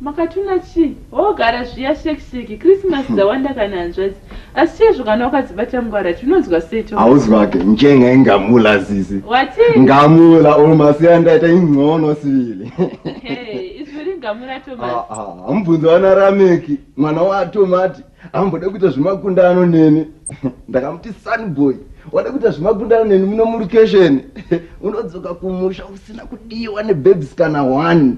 Makatuna chii? Hoo gara zviya sheki sheki Christmas dzawanda kana hanzvadzi asi chaizvo kana wakadzibata mungwara tinonzwa sei to Hauzwake njenga ingamula sisi. Wati? Ngamula or masiya ndaita ingcono sivili. Hey, izwi ringamula Thomas. Ah ah, mubvunzo wana Rameki mwana waTomati. ambode kuita zvemakundano neni ndakamuti sunboy wade kuita zvemakundano neni muno murukesheni unodzoka kumusha usina kudiwa nebabes kana one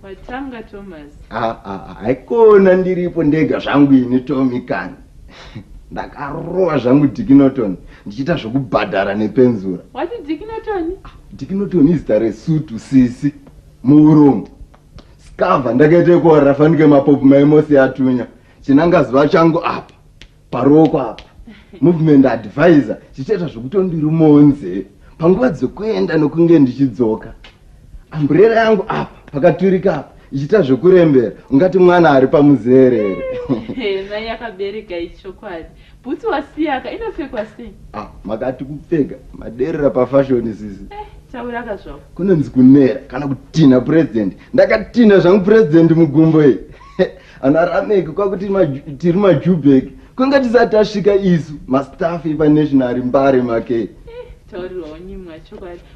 watanga thomas ah, ah, ah, haikona ndiripo ndega zvangu ini tomi kani ndakarova zvangu dikinoton ndichiita zvekubhadhara nepenzura wati dikinoton dikinoton izita resutu sisi muurombo skava ndakaita ekuorera fanike mapopu maimosi yatunya chinanga zuva changu apa paruoko apa movement advisor chichaita zvekutondiri monze panguva dzekuenda nokunge ndichidzoka amburera yangu apa pakaturika apa ichiita zvekurembera ungati mwana ari pamuzerere yakabereka ichokwadi Bhutsu wasiyaka inopfekwa sei? Ah, makati kupfeka maderera pafashoni sisi. Eh, tauraka zvavo. Kunonzi kunera kana kutinha purezidhendi. Ndakatinha zvangu purezidhendi mugumbo iyi. Ana Rameki kwakuti tiri majubheki. Kunga tisati tasvika isu mastaff epaNational Mbare makei. Eh, taurirwa wanyimwa chokwadi.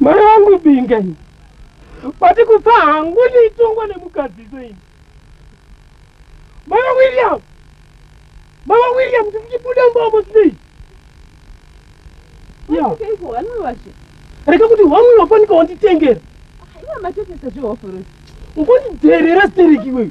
mai vangu binga ini vati kufa hangu ndiitongwa nemukadziso ini mama william mama william ndikuchibuda mbomo sinei reka kuti hwamwe wafanika wanditengera ungondidherera stereki iweyo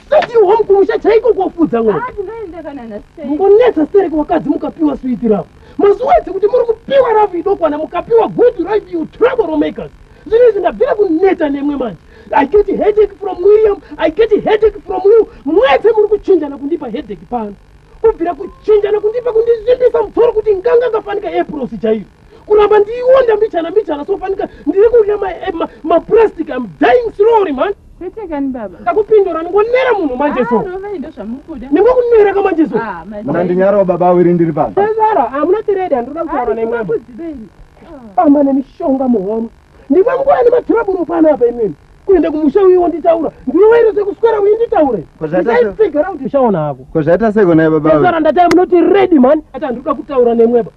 Tatiwa mukumusha chaiko kwafudza mwana. Ah, tingaenda kana na stay. Mungonetsa stereke wakadzi mukapiwa sweet love. Mazuva edzi kuti muri kupiwa love idokwana mukapiwa good life you trouble makers. Zvino izvi ndabvira kuneta nemwe manje. I get a headache from William, I get a headache from you. Mwese muri kuchinjana kundipa headache pano. Kubvira kuchinjana kundipa kundizvimbisa mutoro kuti nganga ngafanika April sichaiyo. kuramba ndiiwonda mbichana mbichana sofanika ndiri kudya eh, maplastic am dying slowly man kwete kani baba ndakupindura ndingonera munhu manje so ah, ndingokunera ka manje so ah, muna ndinyarawo baba awiri ndiri pano ezara hamuna ah, tiredi handinoda kutaura nemwambo famba nemishonga muhono ndimwe nguva nematiraburu pano apa imweni kuenda kumusha uyi wonditaura ndiweire sekuswera uyi nditaure zvaita seko naye baba ezara ndatai munoti redi mani ati handinoda kutaura nemweba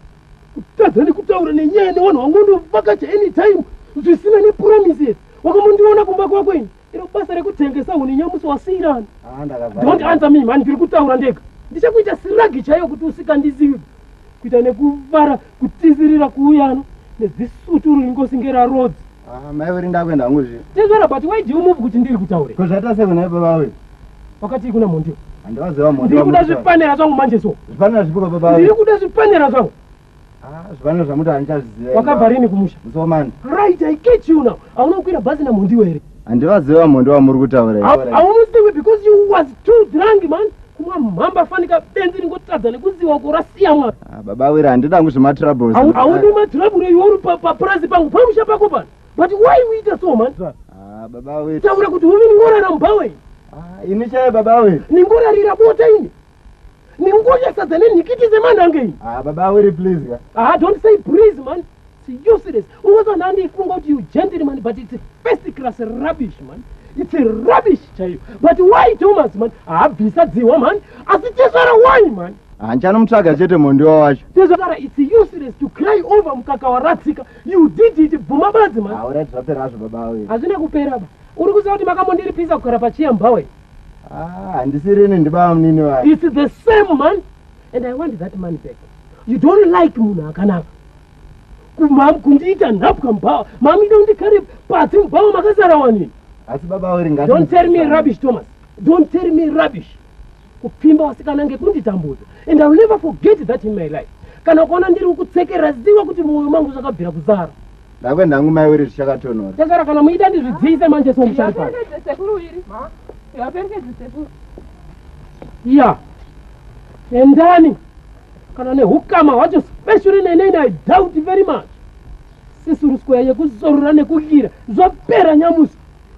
kutadza nekutaura nenyaya nevanhu vangonovakacha anytime zvisina nepromises wakamondiona kumba kwako ini iro basa rekutengesa huni nyamusi wasiirana ah, don't answer me mani ndiri kutaura ndega ndichakuita siragi chaiyo kuti usikandizivi kuita nekuvara kutizirira kuuyano nezisuturu ringosinge rarodzi Ah, mai veri ndakuenda hangu zviye. Tezvara but why do you move kuti ndiri kutaure? Ko zvaita sei kuna baba vawe? Wakati kuna Mondio. Handivaziva Mondio. Ndiri kuda zvipanera zvangu manje so. Zvipanera zvipi kwa baba vawe? Ndiri kuda zvipanera zvangu. Ah, zvipanera zvamuti handichaziva. Wakabva rini kumusha? Musomani. Right, I catch you now. Hauna kukwira bhazi na Mondio here? Handivaziva Mondio wamuri kutaura. Haumuzivi because you was too drunk man. kumwa mhamba fanika benzi ringotadza nekuziva uko rasiya mwana ah, baba wira handida ngu zvematroubles haudi matrouble iwe uri papurazi pangu pamusha pako pano but why uita so man ah, baba wira taura kuti uvi ningorara mubhawe ah, ini chaya baba wira ningorarira bota ini ningonya sadza nenhikiti zemanange ini baba wiri please ka ah don't say please man It's useless. Ungazo nandi funga kuti you gently man but it's first class rubbish man. It's a rubbish chaiyo. But why Thomas man? Habvisa dzihwa man. Asi tezvara why man? Hanchanomutsvaga chete mondiwa wacho. Tezvara it's useless to cry over mukaka waratsika. You did it bvuma badzi man. Aura zvapera zvo baba wewe. Hazvina kupera ba. Uri kuziva kuti makamondiripiza kugara pachiya mbawe. Ah, handisiri nini ndibaba munini wacho. It's the same man and I want that man back. You don't like munhu akanaka. kumam kundiita nhapwa mubhawa mamida undikare pasi mubhawa makazara wanini asi baba weringati don't tell me rubbish thomas don't tell me rubbish kupfimba wasikana ngekunditambudza and iwill never forget that in my life kana ukaona ndiri ukutsekera ziva kuti mwoyo mangu zvakabvira kuzara ndakuenda hangu mai wiri zvichakatonora tezara kana muida ndizvidziyise manje somusharipaa ya endani kana nehukama hwacho specially neinei i doubt very much sisiruskoya yekuzorora nekudira zvapera nyamusi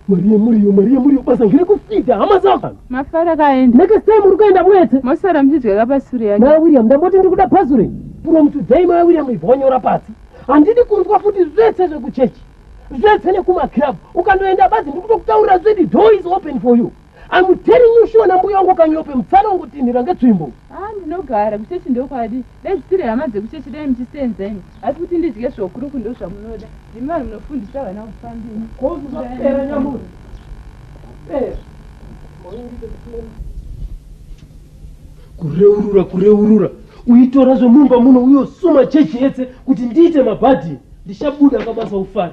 mari yemuriyo mari yemuriyo basa ngiri kufida hama dzako mafara kaenda next time uri kuenda wete mosara muchidya kapasure yacho maya william ndamboti ndiri kuda pasure from today maya william ivonyora pasi handidi kunzwa futi zvese zvekuchechi zvese nekumaclub ukandoenda badzi ndiri kutokutaurira zvedi door is open for you I'm telling you sure nambuya wangu kanyope mupfana wangu tinhira ngetsvimbo. Ah ndinogara kuchechi ndokwadi. Dai zvisiri hama dzekuchechi dai muchisenza ini. Asi kuti ndidye zvokuru kundo zvamunoda. Ndimi vanhu munofundisa vana kufamba ini. Ko zvapera nyamuri. Eh. Kureurura kureurura. Uitora zvomumba muno uyosuma chechi yetse kuti ndiite mabhadhi. Ndichabuda kabasa ufare.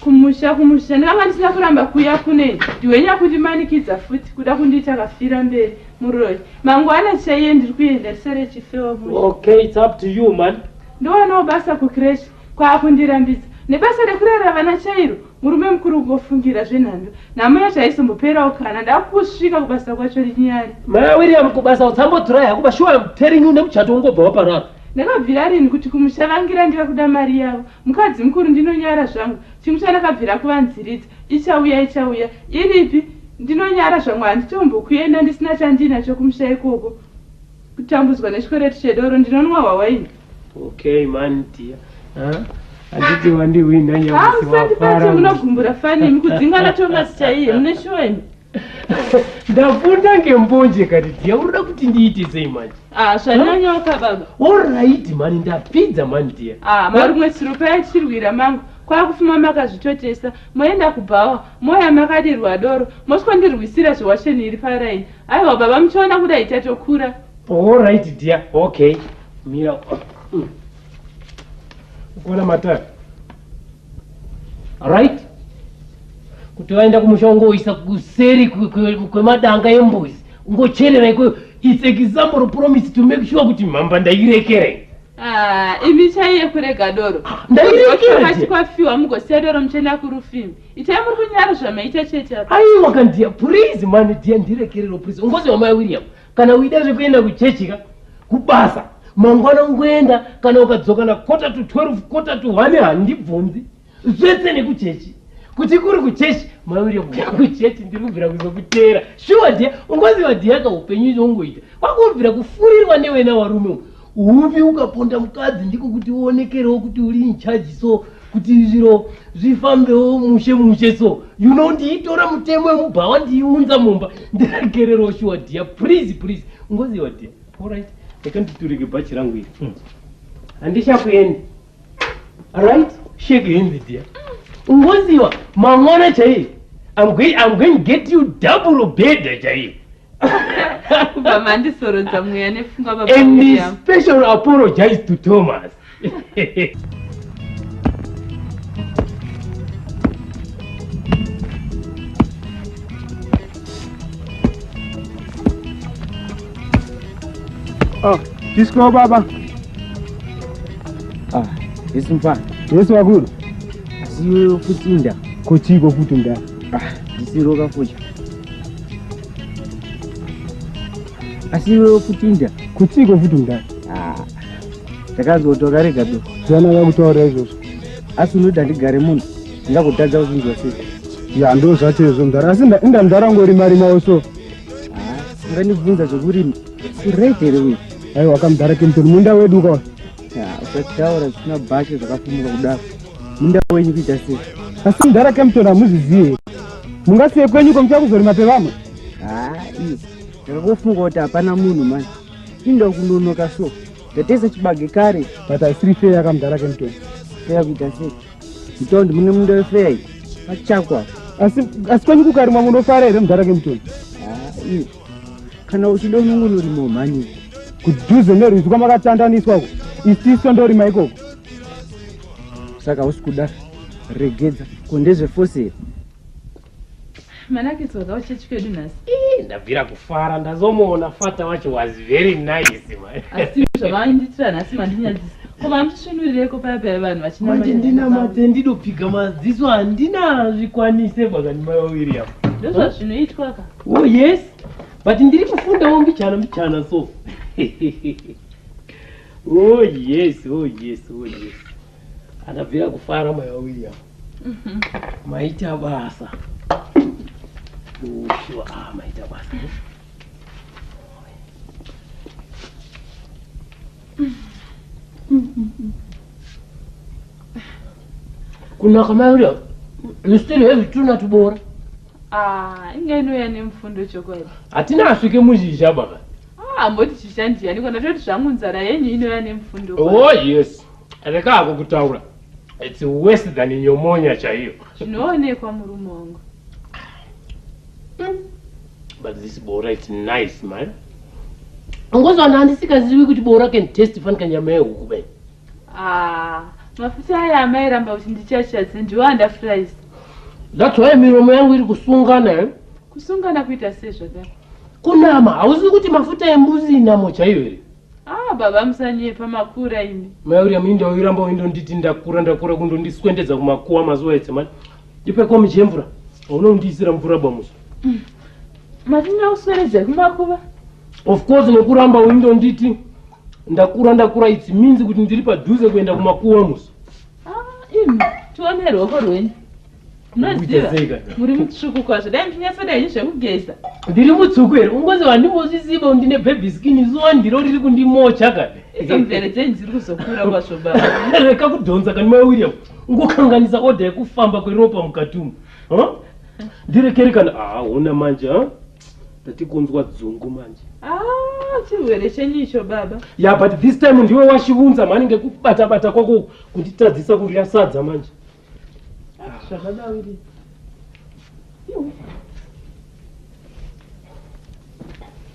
kumusha kumusha ndakanga ndisina kuramba kuya kune ndiwenya kundimanikidza futi kuda kundiita kafira mberi muroyi mangwana chaiye ndiri kuenda risere chifewa mu okay it's up to you man ndowanawo basa kukreshi kwaakundirambidza nebasa rekurera vana chairo murume mukuru kungofungira zvenhando nhamo yacho haizomboperawo kana ndakusvika kubasa kwacho rinyari maya william kubasa utsamboturai hakuba shuwa am telling you nemuchato ungobva waparara Ndakabvira rinhi kuti kumusha vangira ndiva kuda mari yavo. Mukadzi mukuru ndinonyara zvangu. Chimwe chandakabvira kuvanziridza ichauya ichauya. Iripi? Ndinonyara zvangu handitombokuenda ndisina chandiinacho kumusha ikoko. Kutambudzwa nechikwereti chedoro ndinonwa hwawaini. Okay man dear. Huh? handiti wandihwinha nyamusivafara ah, munogumbura fani imi kudzingana thomas chaiye mune shuwa imi ndafunda ngembonje kati dhiya unoda kuti ndiite sei manje ah, zvanyanyoka baba orit mani ndapfidza mani dhiya ah, marumwe tsiro payachirwira mangu kwakufuma makazvitotesa moenda kubhawa moya makadirwa doro moswandirwisira zvewasheni iri paraini aiwa baba muchiona kuda itatokura orit dhiya okay mira mm. ukona matari right kuti vaenda kumusha ungoisa kuseri kwemadanga embuzi ungocherera ikweyo its example promise to make sure kuti mhamba ndairekerei Ah, imi chaiye kurega doro ah, ndairekerakati kwafiwa mugosiya doro muchenda kurufimi itai muri kunyara zvamaita chete aiwa kandiya please mani diya ndirekerero please ungoziwa mai william kana uida zvekuenda kuchechi ka kubasa mangwana ungoenda kana ukadzoka nakota to 12 kota to 1 handibvunzi zvese nekuchechi kuti kuri kuchechi mauri kuya kuchechi ndiri kubvira kuzokuteera shuwa dia ungoziva diaka upenyu izvo ungoita kwakubvira kufurirwa newena warume Uvi ukaponda mukadzi ndiko kuti uonekerewo kuti uri in charge so kuti zviro zvifambewo mushe mushe so you know ndiitora mutemo wemubhawa ndiiunza mumba ndiragererewo shuwa dhiya please please ungoziva dhiya allright rekanditurike bhachi rangu iri hmm. handichakuendi right shake hands dear ungoziwa mangwana chaiye I'm going, I'm going to get you double bhedha chaiye kubva mandisorodza mweya nefungwa baba and special apologize to thomas Oh, disco baba. Ah, yes mfana. Yes wakulu. Asiyo kutinda. Kochiko kutinda. Ah, isiroka futhi. Asiyo kutinda. Kochiko futhi mdala. Ah. Ndakazoti wakarega tu. Zana yakutaura izvozvo. Asi unoda ndigare munhu. Ndakutadza kuzvinzwa sei? Ya ndozvacho izvo mdala. Asi inda mdala ngori mari mawo so. ungandibvunza zvekurima urit here uyu ai wakamudhara kempton munda wedu ukawa usataura zvisina bashe zvakafumuka kudaro munda wenyu kuita sei asi mudhara kempton hamuzvizive mungasiye kwenyu ko muchakuzorima pevamwe hai ndakakofunga kuti hapana munhu mani inda kunonoka so ndatesa chibage kare but asiri fee akamudhara kempton fea kuita sei Mtondi mune munda wefeya pachakwa. Asi asi kwenyu kukarimwa munofara here mudhara kemtondi? Ah, Kana uchida unongonorima mhani. Kudhuze nerwizi kwamakatandaniswa uko. Isiso ndorima ikoko. Saka usikuda regedza kondezve fosiri. Manakis waka kuchechi kwedu nhasi. Ii ndabvira kufara ndazomuona fata wacho was very nice man. Asi zvavainditira nhasi mandinyadzisa. Koma hamuchisvinurireko paya paya vanhu vachina manje ndinamate ndidopfiga maziso handina zvikwanise bakani mai wawiri apo. Ndozvazvinoitwa ka. Oh yes. But ndiri kufundawo mbichana mbichana so. oh yes, oh yes, oh yes. Andabvira kufara mai wawiri apo. maita basa ushuwa ah, maita basa eh? kunaka mayoda you still have tuna tubora ah, inga inouya nemufundo chokwadi hatina asvike muzhizha baba amboti ah, chishandiyani kona toti zvangu nzara yenyu inouya nemufundo oh yes rekako kutaura It's worse than nyomonya chaiyo. Zvinoonekwa murume wangu. But this bora it's nice man. Ngozo ana andisikazivi kuti bora can taste fan kanyama yehuku bai. Ah, mafuta aya amai ramba kuti ndichachadze ndiwo anda fries. That's why miromo yangu iri kusungana. Eh? Kusungana kuita sei zvakadaro? Kunama, hauzivi kuti mafuta embuzi inamo chaiyo here? Haa baba musanyepa makura imi. Mai William inda uyiramba uindonditi ndakura ndakura kundondiswendedza kumakuwa mazuva ese mani. Ndipe komi chemvura. Hauna kundiisira mvura bamuso. Mm. Mati ndakusweredza kumakuva? Of course nekuramba uindonditi ndakura ndakura it means kuti ndiri padhuze kuenda kumakuwa muso. Ah, imi tione ruoko rwenyu munoziva muri mutsvuku kwazvo dai muchinyatsoda henyu zvekugeza ndiri mutsvuku here ungozi vandimozviziva ndine bhebhi skini zuva ndiro riri kundimocha ka idzo mvere dzenyu dziri kuzokura kwazvo baba reka kudhonza kani mai william ungokanganisa odha yekufamba kweropa mukati umu ndirekere kana ahona manje ha tatikunzwa dzungu manje ah, chirwere chenyu icho baba ya yeah, but this time ndiwe washivunza mhani ngekubatabata kwako kunditadzisa kudya sadza manje zvakadaviri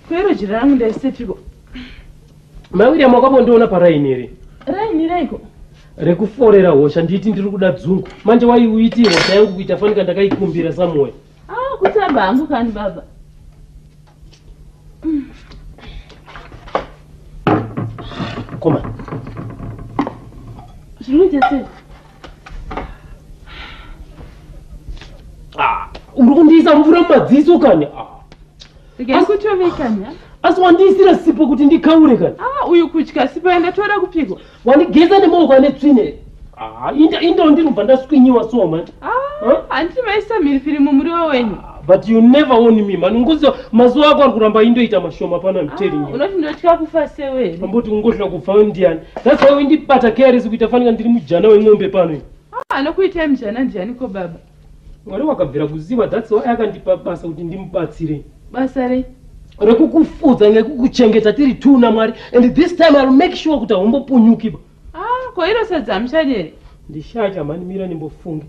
kwero jira rangu ndaisepiko mai william wakambondiona paraini here raini reiko rekuforera hosha nditi ndiri kuda dzungu manje waiuitii hosha yangu kuita fanika ndakaikumbira samoya Ah, kutamba hangu kani baba. Koma. Zvinoita sei? Ah, uri kundiisa mvura mumadziso kani? Ah. Asi wandiisira sipo kuti ndikaure kani? Ah, uyu kutya sipo yandatora kupiko? wandigeza nemaoko ane tsvina here ah, inda inda ndinobva ndaswinyiwa so manje ah, handiti maisa mhiripiri mumuriwo wenyu ah, but you never won me mani ngozi mazuva ako ari kuramba indoita mashoma pano amtelingi unoti ndotya kufa sewe amboti ungohla kufa ndiani that's why windibata caresi kuita fanika ndiri mujana wemombe pano anokuitai mujana ndiani ko baba Mwari wakabvira kuziva that's why akandipa basa kuti ndimubatsire. Basa rei? Rekukufudza nekukuchengeta tiri two naMwari and this time I'll make sure kuti haumbopunyukiba. Ah, ko iro sadza hamushadi here? Ndishacha mhani mira ndimbofunge.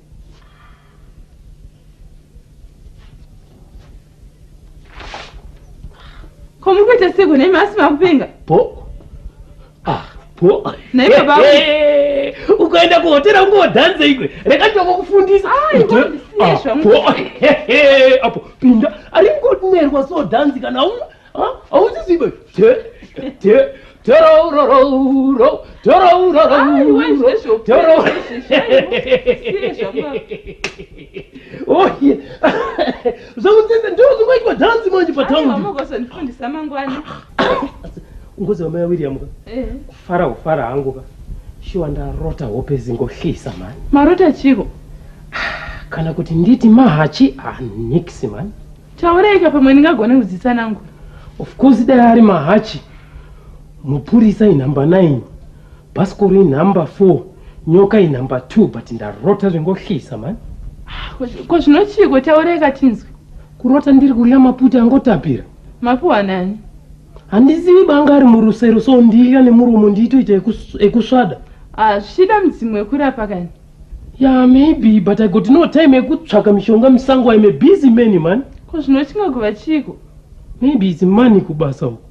ko muri kuita seko nemi asi makupenga po ah po nei baba ukaenda kuhotera ungodhanze ikwe reka ndoko kufundisa ah, apo pinda ari ngonerwa so dhanzi kana una Hauzizibe. Zvakutenda ndoo zvingoitwa dhanzi manje pataundimukosondifundisa mangwana ngozi vamai wawiriamu ka eh. kufara kufara hangu ka shuwa ndarota hope zingohlisa mani marota chiko kana kuti nditi mahachi hanix ah, mani Tauraika pamwe ndingagone kudzisa nangu. Of course dai ari mahachi. Mupurisa inhamba 9. Bhasikoro inhamba 4. Nyoka inhamba 2 but ndarota zvingohlisa man. Ko zvinochiiko tauraika tinzwe. Kurota ndiri kurya maputi angotapira. Mapuwa nani? Handizivi banga ari murusero so ndilya nemuromo ndiitoita ekusvada. Ah, zvichida mudzimu wekurapa kani. Yeah, maybe, but I got no time yekutsvaka mishonga musango. I'm a busy man, man. Ko zvino chingagova chiiko? Maybe it's money kubasa uko.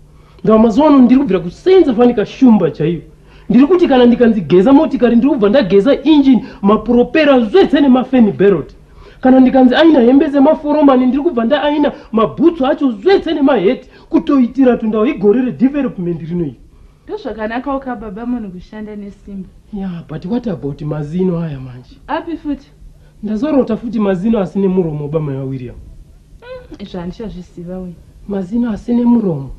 Ndava mazuva ano ndiri kubvira kusenza fani kashumba chaiyo. Ndiri kuti kana ndikanzi geza motikari ndiri kubva ndageza engine, mapuropera zvese nemafeni berot. Kana ndikanzi aina hembe dzemaforomani ndiri kubva ndaaina mabhutsu acho zvese nemaheti kutoitira tundao igore redevelopment rinoiri. Ndozvakanakawo ka baba munhu kushanda nesimba. Yeah, but what about mazino aya manje? Api futi? Ndazorota futi mazino asine muromo bamai va William. Mm, izvo handichazviziva uyu. Mazino asine muromo?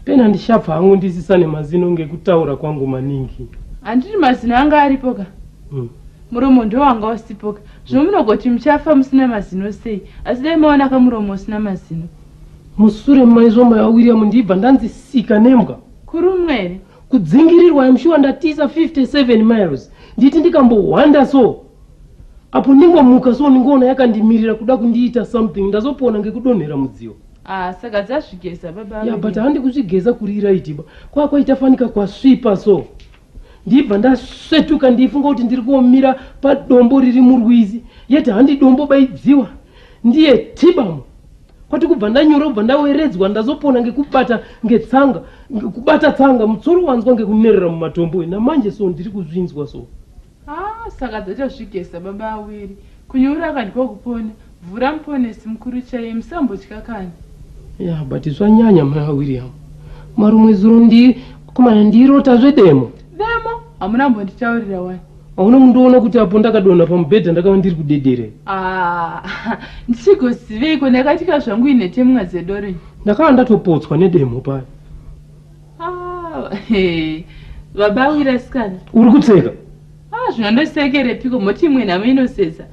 Pena ndishabva hangu ndisisa nemazino ngekutaura kwangu maningi. Handiti mazino anga aripo ka? Mm. Muromo ndo wanga usipo ka. Zvino munogoti muchafa musina mazino sei? Asi dai maona ka muromo usina mazino. musure maizvo mai vawilliam ndiibva ndanzi sika nembwa kurumwa here kudzingirirwa imshuwa ndatiisa 57 miles nditi ndikambohwanda so apo ndingomuka so ndingoona yakandimirira kuda kundiita something ndazopona ngekudonhera mudziyo ah, saka dzazvigeza baba ya but handi kuzvigeza kuri iraitiba kwakwaita fanika kwasvipa so ndibva ndasvetuka ndiifunga kuti ndiri kuomira padombo riri murwizi yet handi dombo baidziwa ndiye tibamu kwati kubva ndanyora kubva ndaweredzwa ndazopona ngekubata ngetsanga kubata tsanga mutsoro wanzwa ngekunerera mumatombo namanje so ndiri kuzvinzwa so Haa saka dzatozvigeza baba awiri kunyura akadyiwa kupona vhura muponesi mukuru chaiye musambotya kani. Yeah but zvanyanya mai vaWilliam marumwe zuro ndi komana ndirota zvedemo. Demo? Hamuna kumbonditaurira wani. Hauna kundiona kuti apo ndakadonha pamubhedha ndakava ndiri kudedere. Ah ndichigoziveiko ndakatika zvangu inhetemwa dzedorenyi. Ndakava ndatopotswa nedemo paya. baba ah, awira sikana uri kutseka ah, zvino ndosekere piko moti imwe nhamo inosetsa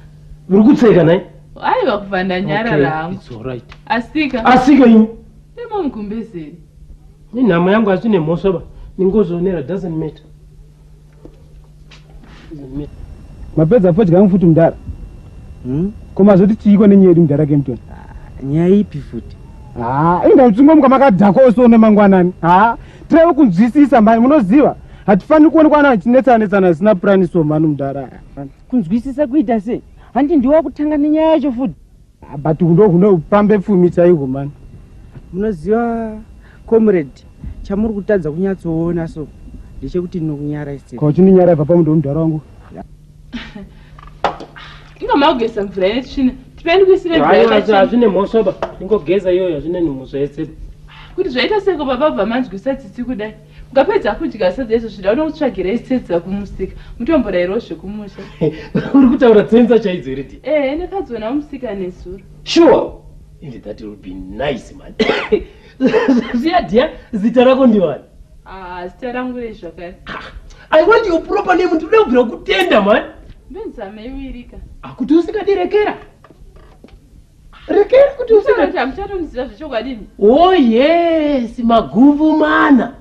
uri kutseka nai aiwa kubva ndanyarara hangu asika asika ini imomugumbezeri nenhamo yangu asi nemhosva ba ningozoonera doesn't matter mapedza fodya yangu futi mudhara hmm? koma zoti chiiko nenyaya yedu mudhara kempton ah, nyaya ipi futi haa ah, inda uchingomuka makadhakwa ose one mangwanani haa ah, tireve kunzwisisa mhai munoziva hatifaniri kuonekwa ana achinetsana netsana asina purani so mhani mudhara kunzwisisa kuita sei handi ndiwa kutanga nenyaya yacho futi Ah, but huno huno pambe pfumi chaihwo mani munoziva comrade chamuri kutadza kunyatsoona so ndechekuti ndinokunyara ise ko chinonyara ibva pamundo wemudhara wangu inga makugeza mvura ine tsvina tipeni kuisire hazvine mhosva ba ingogeza iyoyo hazvine nhumho zvaese kuti zvaita seko baba bva manzwisa tsitsi kudai Mukapedza kudya sadza izvo zvida uno kutsvagira isetsa kumusika mutomborairwa zvekumusha. Uri kutaura tsenza chaidzo iri di. Eh, ndakadziona kumusika nezuro. Sure. Ende that will be nice man. Zviya dia zita rako ndiwani? Ah, zita rangu rei zvakare. Ah, I want your proper name ndinoda kubvira kutenda man. Ndonzame iwirika. Akuti usingadirekera. rekera kuti usati hamuchatondizira zvechokwadi oh yes magumbu mana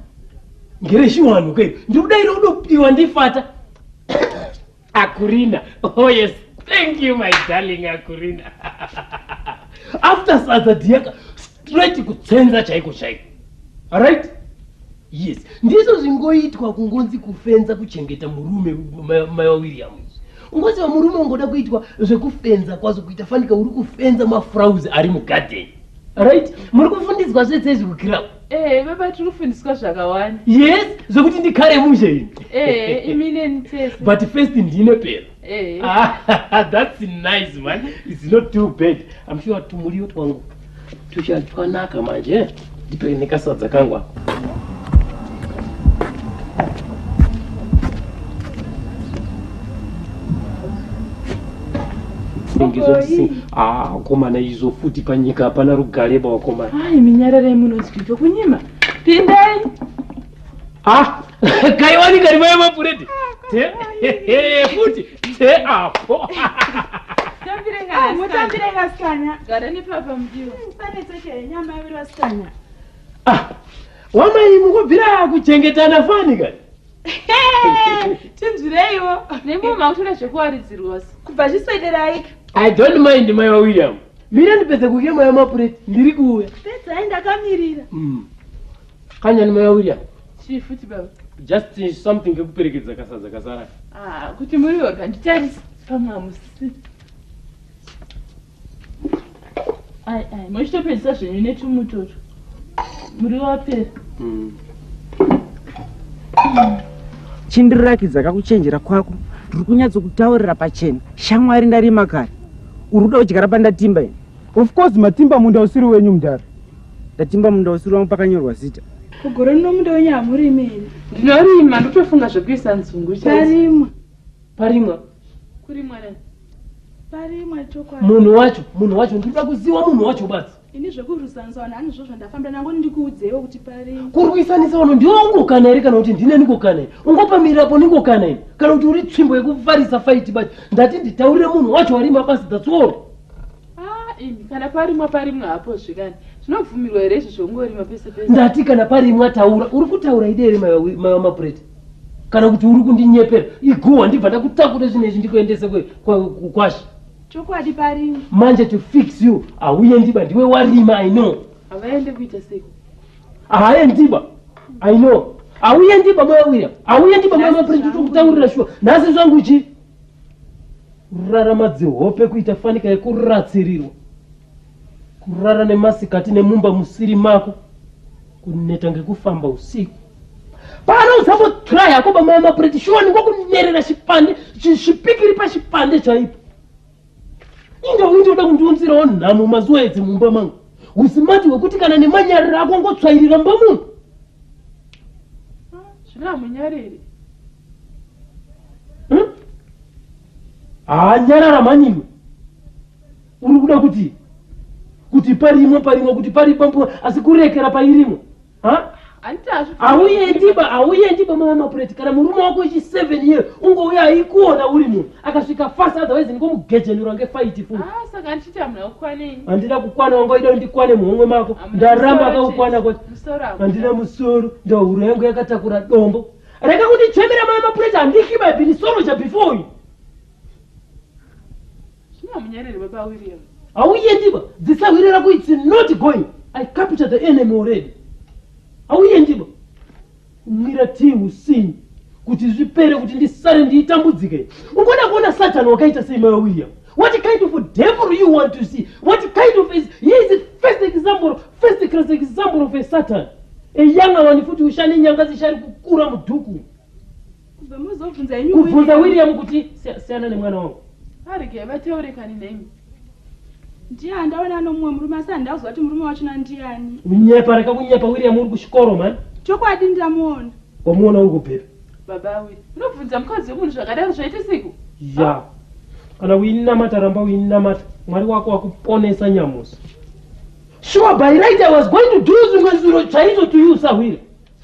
ngereshiwanu ke ndiri kudaira udopiwa ndifata akurina oh yes thank you my darling akurina after sadza diyaka straight kutsenza chaiko chaiko arit yes ndizvo zvingoitwa kungonzi kufenza kuchengeta murume mai wawiriam ungonzi vamurume ungoda kuitwa zvekufenza kwazo kuita fanika uri kufenza mafrauzi ari mugadheni right muri kufundiswa zvese izvi kukirau ee eh, baba tiri kufundiswa zvakawanda yes zvekuti ndikare mushe ini ee eh, imineni tese but first ndine pera Hey. Eh. Ah, that's nice man. It's not too bad. I'm sure tumuriyo twangu tuchatwanaka manje. Eh? Ndipei nekasadza kangu ako. Ah, komana izo futi panyika hapana rugare bawakomana. Ai minyararei munonzwidho kunyima. Pindai. Ah, kaiwani kari vaya mapureti futi te apo wamai mukubvira kuchengetana fani kani tinzwireiwo nemo makutoda zvekuwaridzirwa kubva zviswederai i don't mind mai wawilliam mira ndipedze kukema yamapureti ndiri kuuya pedzai ndakamirira mm. kanyani maya william chii futi baba just eh, something kekuperekedza kasadza kasara ah, kuti muri wega nditarisa pamwe hamusi ai ai mochitopedzisa zvenyu netumutoto muri wapera mm. chindirakidza kakuchenjera kwako ndiri kunyatsokutaurira pachena shamwari ndarima kare uri kuda kudyara pandatimba ini of course matimba munda usiri wenyu mudhara Ndatimba munda usiri wangu pakanyorwa zita. Kugore rino munda wenyu hamurimi imi. Ndinorima ndotofunga zvekuisa nzungu chaidzo. Parimwa. Parimwa. Kurimwa nani? Parimwa chokwadi. Munhu wacho, munhu wacho ndinoda kuziwa munhu wacho basi. Ini zvekurwisanisa vanhu hanizvo zvandafambira nangu ndikuudzeiwo kuti parimwa. Kurwisanisa vanhu ndiwe ungokana here kana kuti ndine ndikokana iri? Ungopamirirapo ndingokana iri? Kana kuti uri tsvimbo yekufarisa faiti basi ndati nditaurire munhu wacho warima basi that's all. Ah, imi kana parimwa parimwa hapo zvikani zvinobvumirwa here izvo zvongorima pese pese ndati kana parimwa taura uri kutaura ide here maiwa mapureti kana kuti uri kundinyepera iguwa ndibva ndakutakure zvinhu izvi ndikuendese kwashi chokwadi parimwa manje to fix you hauye ndiba ndiwe warima i know havaende kuita sei haye ndiba i know hauye ndiba maya william hauye ndiba maya mapureti tokutaurira shuwa nhasi zvangu chii kurara madzihope kuita fanika yekuratsirirwa kurara nemasikati nemumba musiri mako kuneta ngekufamba usiku pano usambotyra yako bamaya mapureti shuwa ndingokunerera chipande zvipikiri pachipande chaipo inge uindoda kundiunzirawo nhamo mazuva edzi mumba mangu usimati hwekuti kana nemanyariro ako ngotswairira mba munhu ah, zviramunyariri hmm? haanyarara mhanyimwe uri kuda kuti kuti parimwe parimwe kuti pari pampu asi kurekera pairimwe hauyendiba hauyendiba mama mapureti kana murume wako ichi seven year ungouya aikuona uri munhu akasvika fast otherwise ndikomugejenura ngefaiti fuhandina ah, kukwana wanga ida ndikwane muhomwe mako ndaramba akakukwana kwati handina musoro ndahuro yangu yakatakura dombo Rega kundichemera mai mapureti handihli my binisoroja before you. Zvino hamunyereri baba William. Hauyendiba dzisahwire rako it's not going. I capture the enemy already. Hauyendiba kumwira tii usini kuti zvipere kuti ndisare ndiitambudzike. Ungoda kuona satani wakaita sei mai William. What kind of a devil you want to see? What kind of is he is the first example, first class example of a Satan. A young one futhi ushane nyanga zishari kukura muduku. Kubvunza William kuti siyana nemwana wangu. Ari ke vateurekani nemi. Ndiye andaona nomumwe murume asi andazwa kuti murume wacho nandiani. Unyepa reka kunyepa William uri kuchikoro man. Chokwadi ndamuona. Wamuona uri kupepa. Baba we, unobvunza mukadzi wemunhu zvakadaro zvaitisiko? Ya. Kana uinamata ramba uinamata. Mwari wako wakuponesa nyamusi. Sure by right I was going to do zvimwe zviro chaizvo to you sahwira.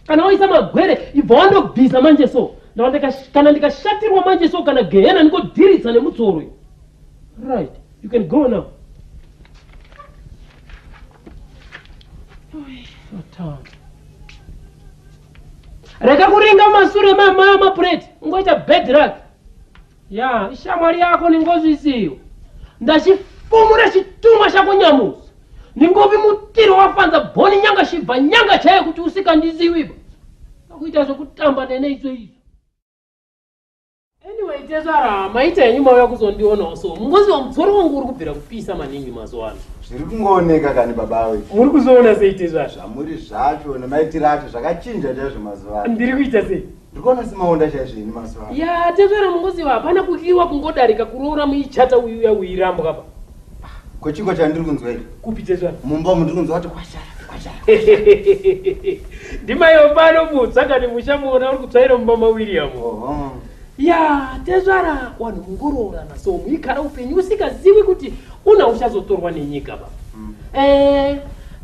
Kana waisa magwere ibva wandobvisa manje so. Ndawandika kana ndikashatirwa manje so kana gehena ndikodhiritsa nemutsoro. Right. You can go now. Satan. Rega kuringa masure mama mapureti ungoita bad luck. Ya, ishamwari yako ni ngozi isiyo. Ndachifumura chitumwa chako nyamusi. Ningovi mutiro wafanza boni nyanga shibva nyanga chaiyo kuti usikandiziwiba. Akuita zvekutamba nene idzo idzo. Anyway, tezvara maita henyu mauya kuzondionawo so mungoziva mudzoro wangu uri kubvira kupisa maningi mazuva ano. Zviri kungooneka kani baba we. Muri kuzoona sei tezvara? Zvamuri zvacho nemaitiro acho zvakachinja chaizvo mazuva ano. Ndiri kuita sei? Ndiri kuona semaonda chaizvo ini mazuva ano. Ya tezvara mungoziva hapana kukiwa kungodarika kuroora muichata uyu uya uirambwa apa. Ko chiko chandiri kunzwa iri? Kupi Jesu? Mumba umu ndiri kunzwa kuti kwashara, kwashara. Ndimaiwo pano mutsa kani muchamuona uri kutsvaira mumba maWilliam. Oho. Ya, tezvara wanhu mungoroorana so muigara upenyu usingazivi kuti una uchazotorwa nenyika ba. Mm. Eh,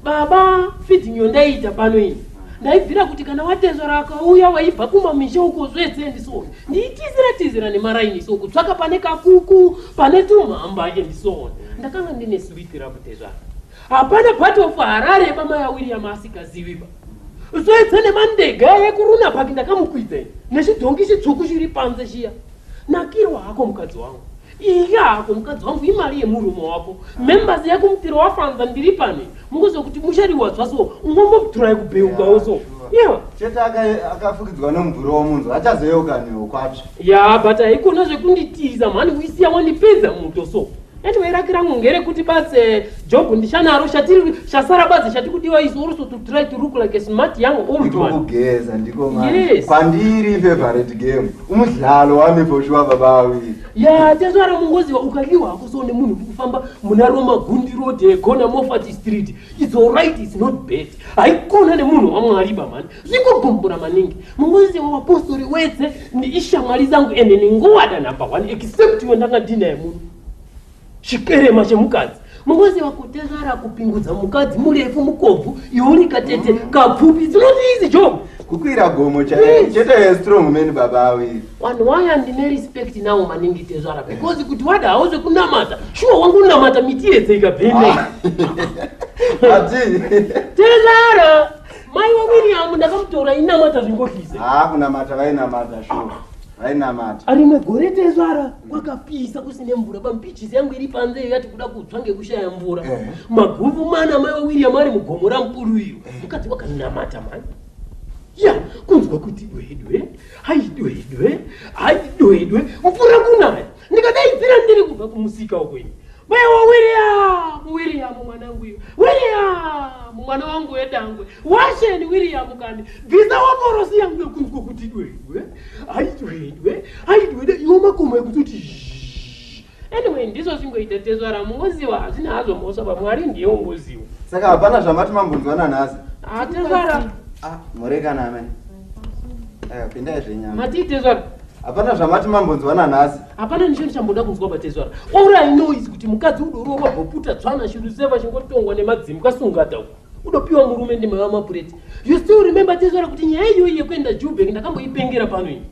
baba feeding yondaiita pano iyi. Ndaibvira kuti kana watezvara akauya waibva kumamisha uko zvese ndisoni. ndiitizira tizira nemaraini so kutsvaka pane kakuku pane tumhamba and so on ndakanga ndine sweet rabutezvara hapana part of harare yemamai awiriam asikaziviba soedza nemandega yekuruna paki ndakamukwidza ini nechidhongi chitsvuku chiri panze chiya nakirwa hako mukadzi wangu Iya hako mukadzi wangu imari yemurume wako members yako mupiro wafanza ndiri pane mukuziva kuti muchariwadzwa so ungombobturai kubheukawo so chete akafukidzwa nomubvuro womunzwa achazoyeuka newo kwatsva ya but haikona zvekunditiza mhani uisiya wandipedza muto so anyway raki rangu ngerekuti base Job ndichanaro chatiri chasara badzi chatikudiwa is also to try to look like a smart young old man. Kugeza ndiko manje. Yes. Pandiri favorite game. Umudlalo wami for sure baba we. Ya tezvara mungoziva ukaliwa hakuzoone munhu kufamba muna Roma Gundi Road eh, Gona Moffat Street. It's all right it's not bad. Haikona nemunhu waMwari ba man. Zvingogombora maningi. Mungoziva wapostori wese ni ishamwari zangu ende ni ngowada number 1 except wendanga dina yemunhu. chikerema chemukadzi mungoziva kutezvara kupingudza mukadzi murefu mukobvu iuri katete mm. kapfupi it's not easy job kukwira gomo chete chete strong man baba awi one why and me respect now maningi tezvara because kuti wada hauze kunamata sure wangu namata miti yese ikabvende ah. ati tezvara mai wa William ndakamutora inamata zvingohlize ah kunamata vainamata sure vainamata ari negore tezvara kwakapisa kusine mvura pampichisi yangu iri panze iyo yati kuda kutsva ngekushaya mvura eh. maguvu mana mai wawiriam ari mugomo ramukuru iyo eh. mukadzi wakanamata mani ya kunzwa kuti dwedwe hai dwedwe hai dwedwe mvura kunaya ndikadaidzira ndiri kubva kumusika ukwenyu maiwa wiriamu wiriamu mwanangu iyo wiriamu mwana wangu wedangwe washeni wiriamu kani bvisa waporosi yangu yokunzwa kuti dwedwe haidwedwe haidwede iwo makomo ekuti kuti anyway ndizvo zvingoita tezvara mungoziwa hazvina hazvo mhosva pamwari ndiye ungoziwa saka hapana zvamati mambonzwana nhasi hatezvara ah, ah, murekana amene eh, pindai zvenyama matii tezvara hapana zvamati mambonzwana nhasi hapana nisho ndichamboda kunzwa batezvara all i know is kuti mukadzi udorowa boputa tsvana shuru seva chingotongwa nemadzimu kasungata uku udopiwa murume ndimai wamapureti you still remember tezvara kuti nyaya iyoyi yekuenda jubek ndakamboipengera pano ini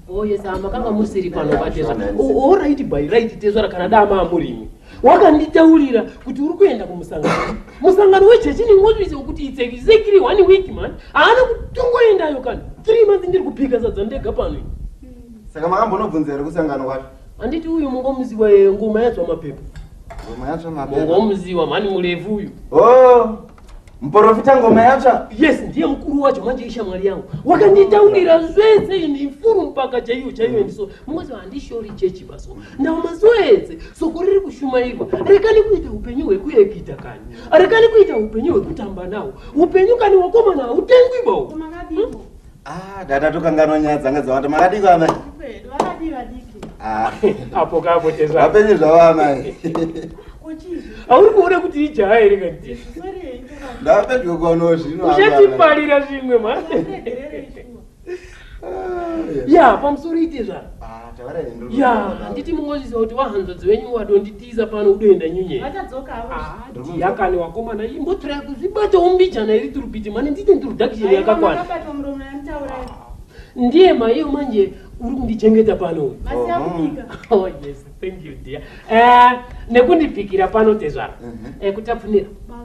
oh yes ah, makanga musiri pano vatezva oraiti oh, oh, by right tezvara kana daa maamurimi wakanditaurira kuti uri kuenda kumusangano musangano wechechi ningotuise kuti it's exactly one week man haana kutongoendayo kana three months ndiri kupika sadza ndega pano saka makambonobvunza here kusangano kwacho Anditi uyu mungomuziwa yeye ngoma yatswa mapepa. Ngoma yatswa mapepa. Mungomuziwa mani murefu uyu. Oh. Mporofita ngoma yatsva. Yes, ndiye mkuru wacho manje ishamwari yangu. Wakanditaurira zvese ini mfuru mpaka chaiyo chaiyo ndiso. Mm. Mungozi handishori chechi baso. Ndawo mazoedze soko riri kushumairwa. Rekani kuita upenyu hwekuyekita kani. Rekani kuita upenyu hwekutamba nawo. Upenyu kani wakomana utengwi bawo. Kumakadii. Hmm? Ah, dada tokanganwa nyaya dzanga dzawanda makadiko amai ah. apo kapo vapenye zvavo amai auri kuona kuti ijaya here kati ndapedyo kwano zvinouzatiparira zvimwe ma ya pamusoro ite zvaro ah, ya handiti mungozviziva kuti wahanzodzi wenyu wadonditi Tiza pano udoenda nyunye. Vachadzoka havo. Ah, ndiyakani wakomana imbotira kuzibata umbijana iri turupiti mani ndite introduction yakakwana. Vakabata muromo yanitaura. Ndiye maiyo manje uri kundichengeta pano. Masiya kubika. Oh yes, thank you dear. Eh, nekundibikira pano tezvara. Mhm. Eh, kutafunira. Baba.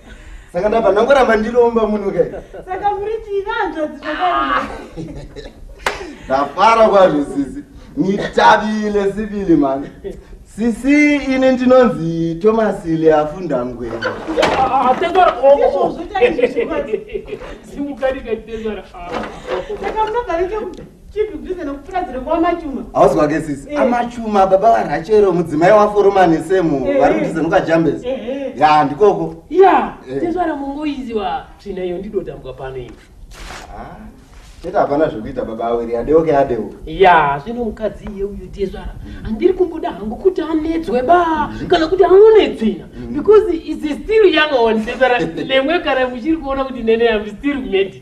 saka ndabva ndangoramba ndiromba muno kai saka muri chivanzvadzi zvakaiaa ndafara kwazvo sisi nitavile sivili mani sisi ini ndinonzi thomas leafundangwena hausi kwake sisi eh. amachuma baba varachero mudzimai waforoma nesemu eh. vari kutiza nokajambes eh, ya ndikoko ya tezvara mongoiziwa tsvina iyo ndidotambwa pano ivi ah, chete hapana zvekuita baba awiri adeoke adeo ya zvino mukadzi iye uyo tezvara handiri kumboda hangu kuti anetswe ba mm-hmm. kana kuti aone tsvina mm-hmm. because is still young one tezvara lemwe kana muchiri kuona kuti nene am still medi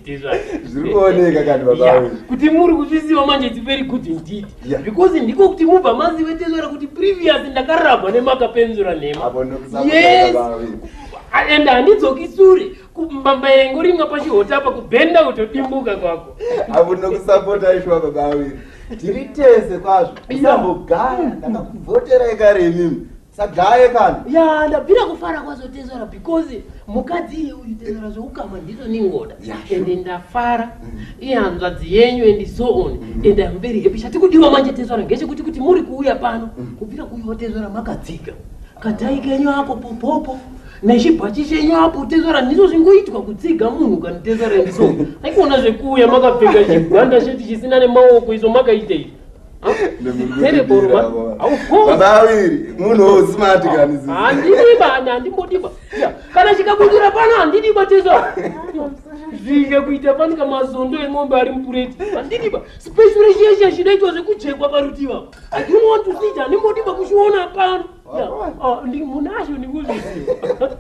zvirikuoneka kani baba kuti muri kuzviziva manje it's very good indeed yeah. because ndiko kuti mubva mazive tezvara kuti previous ndakarabwa nemakapenzura nhema yes and handidzoki sure mbamba yengo rimwa pachihota apa kubhenda kutodimbuka kwako avo nokusapota aishuwa baba awiri tiri tese kwazvo isambogara ndakakuvhoterai kare imimi sagaye kana ya ndabvira kufara kwazotezora because mukadzi iye uyu tezora zveukama ndizo ningoda ende ndafara mm. ihanzvadzi yenyu and so on mm. and am very happy chatikudiwa manje tezora ngechekuti kuti muri kuuya pano mm. kubvira kuiwa tezora makadziga kadhai kenyu ako popopo nechibhachi chenyu apo tezora ndizo zvingoitwa kutsiga munhu kanitezora ndiso aikuona zvekuuya makapfeka chigwanda cheti chisina nemaoko izo makaitei kana chikabudira pano handidiba tesa zvinge kuita fanika mazondo emombe ari mupureti handidiba special shesha chidaitwa zvekujekwa parutiva i don't want to see it handimodiba kuchiona pano ah, munazvo ndikuzviziva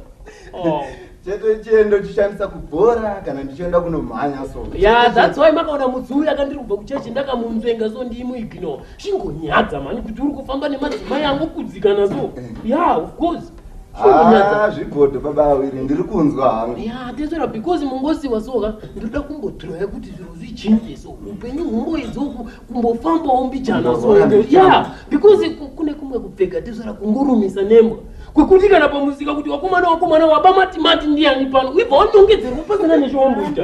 chete chiendo chishandisa kubhora kana ndichienda kunomhanya so ya that's why makaona mudzi uyu akandiri kubva kuchechi ndakamunzvenga so ndiimuignore chingonyadza mhani kuti uri kufamba nemadzimai angokudzikana so eh. ya of course ah, zvigodo baba awiri ndiri kunzwa hangu ya tesera because mungosiwa soka ndinoda kumbodroya kuti zviro zvichinje so upenyu humboidzoku kumbofambawo mbijana so yeah because kune kumwe kupfeka tezvara kungurumisa nembwa kwekuti kana pamusika kuti wakomana wakomana waba matimati ndiyani pano uibva wanongedzerwa pasina nechombo ita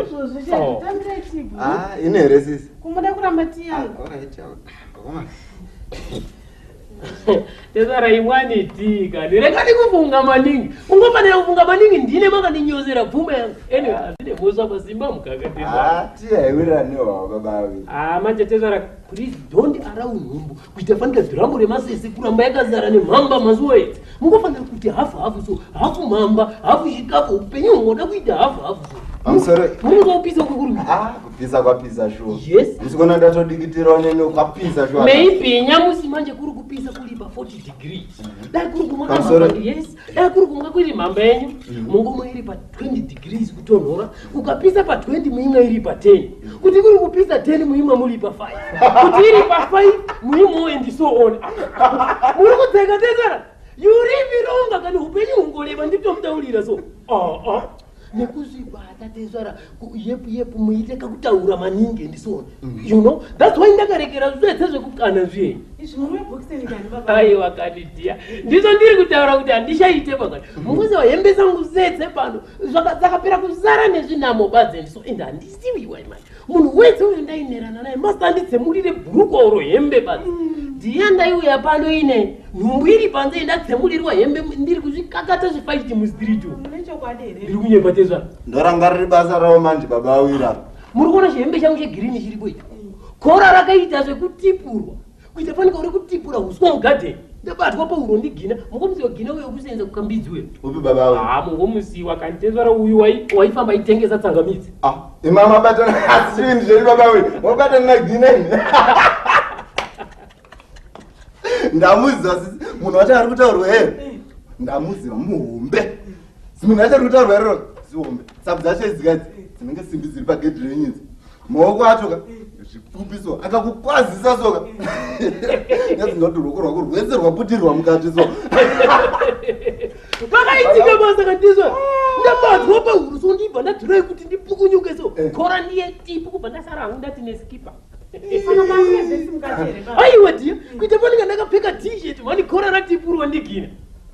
oh. ah, ine here sisi kumuda kuramba tiyangu ah, tezvara imwani tika ndirega ndikufunga maningi ungofanira kufunga maningi ndine makandinyozera pfuma yangu anyway hazvine mhosva pazimba mukaka tezvaratiaiwiranewa ah, babavi haa ah, manje tezvara please don't around nhumbu kuita fanira dhirambo remasese kuramba yakazara nemhamba mazuva ese mungofanira kuti hafu hafu so hafu mhamba hafu chikafu upenyu hungoda kuita hafu hafu so munozopisa kukuru pizza kwapizza shuwa yes ndisikuona ndatodikitirawo nene kwapizza shuwa maybe nyamusi manje kuri kupisa kulipa 40 degree mhm. dai kuri kumwa yes dai kuri kumwa kuri mhamba yenyu mhm. mungumo iri pa 20 degrees kutonhora ukapisa pa 20 muimwe iri pa 10 mhm. kuti kuri kupisa 10 muimwe muri pa 5 kuti iri pa 5 muimwewo and so on muri kudzeka tezara yurivironga kana upenyu hungoreva nditomutaurira so uh, uh. nekuzvigwa hatatezvara yepu yepu muite kakutaura maningi ndisona mm. you know thats why ndakarekera zvese zvekukana zviye aiwa kani dia ndizvo ndiri kutaura kuti handishaite pakati mm. mukuzi wahembe zangu zese pano dzakapera kuzara nezvinamo badze ndiso and handisiwiwa imai munhu wese uyo ndainerana naye masanditsemurire bhuruko oro hembe basi mm. ndiya ndaiuya pano ine nhumbu iri panze ndatsemurirwa hembe ndiri kuzvikakata zvifaiti mustreet ndiri kunyepa tezvaro ndorangariri basa ravo manje baba awira muri kuona chihembe changu chegirini chiripo icho kora rakaita zvekutipurwa kuita fanike uri kutipura huswa mugadheni ndabatwa pauro ndigina mungomusiwa gina uyo kusenza kukambidzi uyo upi baba uyo ah mungomusiwa kanti tezvara uyu waifamba aitengesa tsangamidzi ah imama batana asini zveri baba uyo wabatana na gina ndamuziva sisi munhu wacho ari kutaurwa here ndamuziva muhombe munhu wacho ari kutaurwa rero zihombe sabu dzacho idzikadzi dzinenge simbi dziri pagedhi renyinzi maoko acho ka zvipfupi so akakukwazisa so ka nyazi ndinoti ruoko rwako rwese rwaputirwa mukati so pakaitika basa kandizva ndabatwa pahuru so ndibva ndadhirai kuti ndipukunyuke so eh. kora ndiye tipu kubva ndasara hangu ndati neskipa aiwa dia kuita panenge ndakapfeka t-shirt mani kora ratipurwa ndigina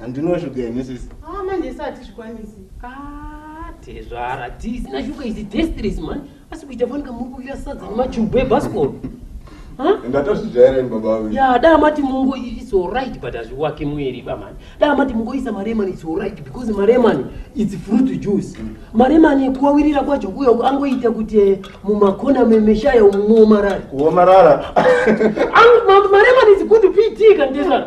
handino shuga imi sisi ah, manje isi hatizvikwanisi ah, tezvara tisina shuga izi destries man asi kuita fani kamuri kuira sadza nemachubu ebaskol ndatozvijaira ini baba vangu ya dai mati mungo its alright but hazviwake mueri bamani dai mati mungoisa maremani its alright because maremani its fruit juice mm. maremani kuwawirira kwacho kuyo angoita kuti eh, mumakona memeshaya umuomarara kuomarara maremani is good pt kandizvana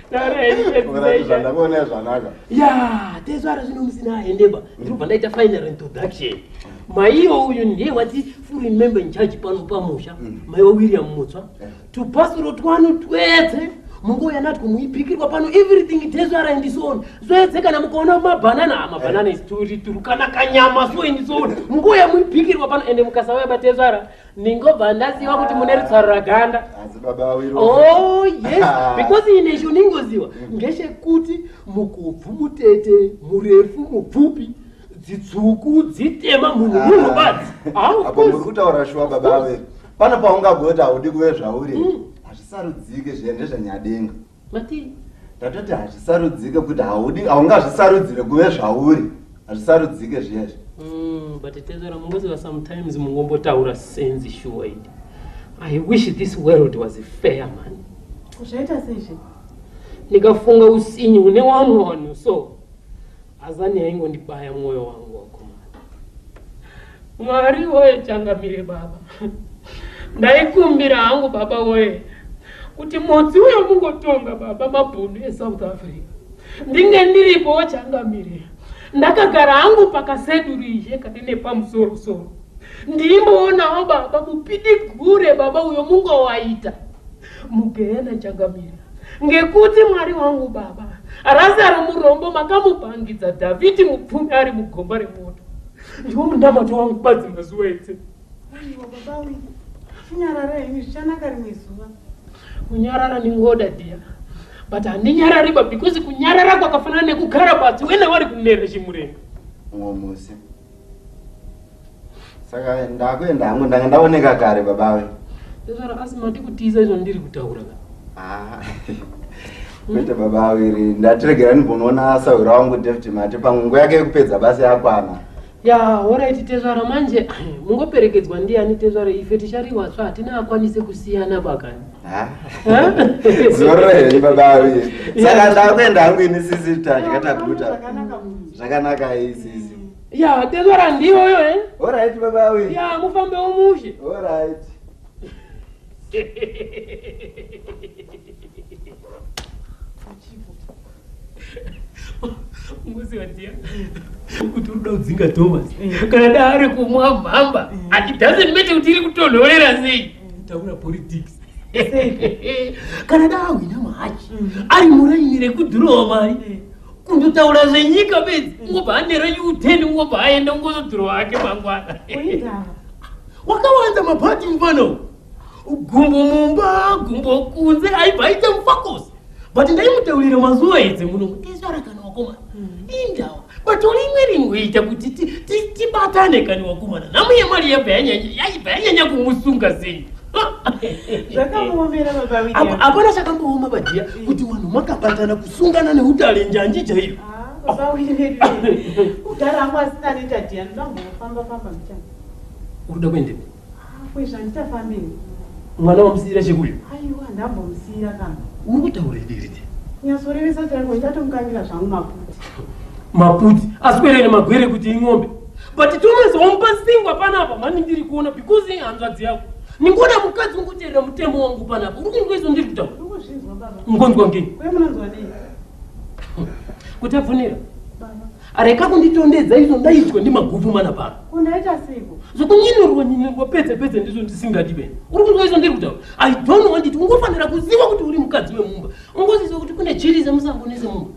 zvandakuonea zvanaka ya tezvara zvino musina aendeba ndinobva ndaita final introduction maiyo uyu ndiye wati full member in charge pano pamusha mm. maiwa william mutswa eh. to pasoro twanu twese munguva yanati kumuipikirwa pano everything tezvara and so on zvese kana mukaona mabhanana ah, mabhanana eh. turi turi kana kanyama so and so on munguva yamuipikirwa pano ende mukasauya batezvara ndingobva ndaziva kuti mune rutsaro raganda oh yes because ine cho ndingoziva ngechekuti mukubvu mutete murefu mupfupi dzitsvuku dzitema munhu munhu badzi apo muri kutaura shuwa baba ave pano paungagoti haudi kuve zvauri mm. hazvisarudzike zviya ndezvanyadenga Matii? Ndatoti hazvisarudzike kuti haudi haungazvisarudzire kuve zvauri. Hazvisarudzike zviyezvi. Mm, but tezvara mungoziva sometimes mungombotaura sense sure idi. I wish this world was fair man. Zvaita sezvi? Ndikafunga usinyi une wamwe wanhu so. Azani yaingondibaya mwoyo wangu wakomana. Mwari woye changamire baba. Ndaikumbira hangu baba woye kuti motsi uyo mungotonga baba mabhunu eSouth Africa. Ndinge ndiripo wochangamire. Ndakagara hangu pakaseduru izhe kati nepamusoro soro. Ndimboonawo baba mupidigure baba uyo mungowaita. mugehena changamire ngekuti mwari wangu baba razaro murombo makamupangidza dhavhidhi mupfumi ari mugomba remoto ndiwo munamato wangu badzi mazuva ese chinyarara henyu zvichanaka rimwe zuva kunyarara ndingoda dia but handinyarariba because kunyarara kwakafanana nekugara badzi wena wari kunere chimurenga mumwe musi saka ndakuenda hangu ndanga ndaoneka kare babawe ndosara asi mati kutiza izvo ndiri kutaura ka ah. kwete baba awiri ndatiregerani bonoona sahwira wangu david mati pamwe nguva yake yekupedza basa yakwana ya horaiti tezvara manje mungoperekedzwa ndiyani tezvara ife tichariwasva hatina akwanise kusiyana bakani zororei baba avi saka ndakuenda hangu ini sisi tadya taguta zvakanaka iyi sisi ya tezvara ndiyoyo e eh? orit baba avi ya mufambe womushe orit unoziva dia kuti uri kuda kudzinga thomas kana da ari kumwa mhamba ati doesn't matter kuti iri kutonhorera sei taura politics kana da ahwina mahachi ari muraini rekudhurowa mari kundotaura zvenyika bedzi ungobva anera uteni ungobva aenda ungozodhurowa ake mangwana wakawanza mabhati mufana uku gumbo mumba gumbo kunze aibva aite mufakosi but ndaimutaurira mazuva edze muno kutesvara kana wakomana hmm. indawa but uri imwe rimwe ita kuti tibatane kana wakomana nhamu yemari yaibva yanyanya kumusunga sei hapana chakambooma badiya hmm. kuti vanhu makabatana kusungana neudare njanji chaiyo ah, unoda kuendepi Haa kwezvo handichafambei. Mwana wamusiira chekuyo? Aiwa ndambomusiira kana. Uri kutaurei Diridzi? Nyatsorevesa chaiko ndatomukangira zvangu maputi. Maputi aswere nemagwere kuti ing'ombe. But Thomas wamupa singwa panapa mani ndiri kuona because hanzvadzi yako. Ningona mukadzi ungoteerera mutemo wangu panapa. Uri kunzwa izvo ndiri kutaura? Ungonzwa ngenyi? Kwe munonzwa nei? Kuti abvunira. areka kunditondedza izvo ndaitwa ndimaguvu mana pano undaita seiko zvokunyinorwa nyinorwa pedze pedze ndizvo ndisingadi vene uri kunzwa izvo ndiri kutaura i don't want it ungofanira kuziva kuti uri mukadzi wemumba ungoziziva kuti kune chiri zemusango nezemumba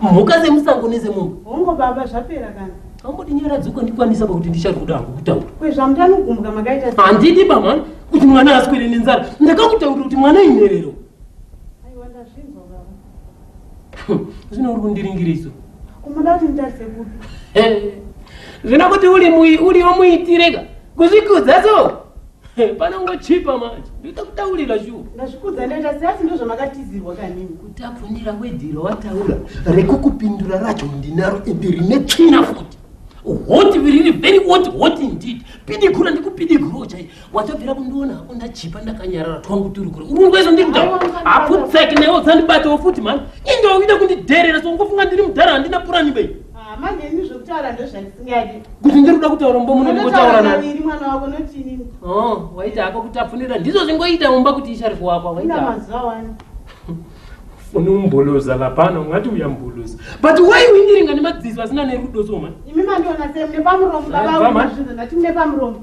mhuka zemusango nezemumba hongo baba zvapera kana amboti nyara dzuka ndikwanisa pakuti ndichari kuda hangu kutaura kwezvamutanogumbuka makaita handidi bamana kuti mwana aswere nenzara ndakakutaurira kuti mwana inerero zvino uri kundiringiriso unoda kuti nditarise kupi zvino kuti uriwo muitireka kuzvikudza so panongochipa manje ndoita kutaurira shuwa ndazvikudza ndoita seasi ndozvamakatizirwa kanini kutabvunira wedhiro wataura rekukupindura racho ndinaro ende rine tsvina futi hoti riri very hoti hoti indeed pidigura ndikupidigurawo chaiye watobvira kundiona hako ndachipa ndakanyarara twangu turi kure urungwezvo ndiri mdhara haputseki newe udzandibatawo futi mhani indowa uida kundidherera so ungofunga ndiri mdhara handina purani bei ah, manje ini zvekutaura ndozvandisingadi kuti ndiri kuda kutaura mumba muno ndingotaura naviri mwana wako notinini oh, waita hako kutapfunira ndizvo zvingoita mumba kuti ishari kuwakwa waita mazuva wani fone umboloza lapana ungati uyamboloza but why uindiringa nemadziso asina nerudo so mani imi mandiona semune pamuromo baba zvinhu ndati mune pamuromo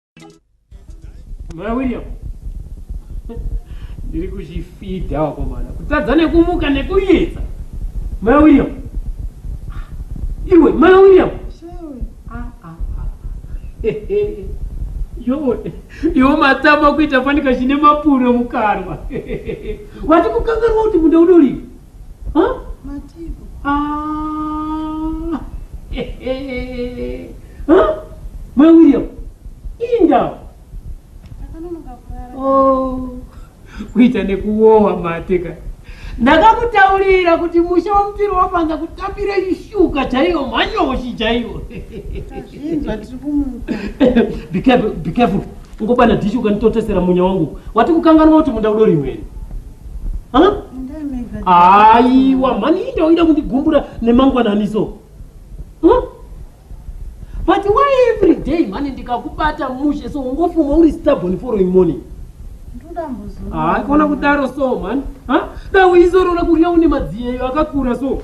Mwana William. Ndiri kuchifidha wakomana. Kutadza nekumuka nekunetsa. Mwana William. Iwe mwana William. Ah, ah, ah. Yo, yo matama kuita fanika chine mapuro mukarwa. Wati kukangarwa kuti munda unolima. Huh? Mativo. Ah. huh? Mai William. Indawo. Ndakanonoka kurara. Oh. Kuita nekuwowa mate ka. Ndakakutaurira kuti musha wamupiri wafanza kutambira ishuka chaiyo manyoshi chaiyo. Tazvinzwa tiri kumuka. Be careful, be careful. Ungobana dishi ukanitotesera munya wangu. Wati kukanganwa kuti munda udori imweni. Ha? Aiwa, mani inda uida kundigumbura nemangwananiso. Ha? But why every day mani ndikakubata mushe so ungofuma uri stubborn following morning? Haa, kona kudaro so mani. Ha? Dai uizorora kurya une madziyeyo akakura so.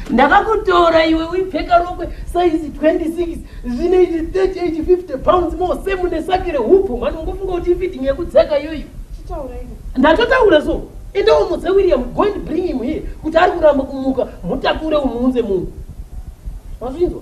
ndakakutora iwe uipfeka rokwe saizi 26 zvine ichi 30 ichi 50 pounds more same nesaki rehupfu mhani ungofunga kuti ifitting yekudzaka iyoyo ndatotaura so enda umudze william go and bring him here kuti ari kuramba kumuka mutakure umuunze munhu wazvinzwa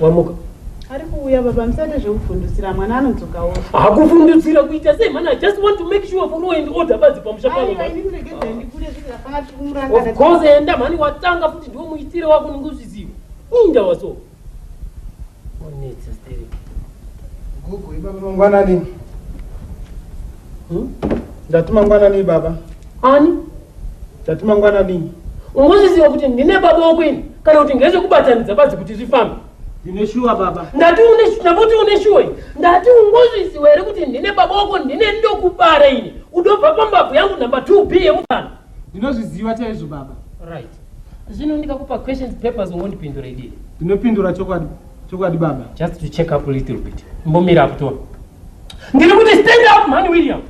wamuka ari kuuya baba musade zvekuvhundutsira mwana anodzokawo hakuvhundutsira kuita sei mwana i just want to make sure for law and order badzi pamusha panoofcourse enda mhani watanga futi ndiwo muitire wako ninge uzviziva inda waso onetsa sterek gugu ibaba mangwanani hmm? ndati mangwanani ibaba ani Tati mangwanani. Ungozviziva kuti ndine baba wako ini kana kuti ngezvekubatanidza badzi kuti zvifambe. Ndine shuwa baba. Ndati une ndamuti une shuwa ini. Ndati ungozviziva here kuti ndine baba wako ndine ndokubara ini. Udobva pambabvu yangu number 2B yemutano. Ndinozviziva chaizvo baba. Right. Zvino ndikakupa questions papers ungondipindura idii? Ndinopindura chokwadi. Chokwadi baba. Just to check up a little bit. Mbomira apo tona. Ndiri kuti stand up man William.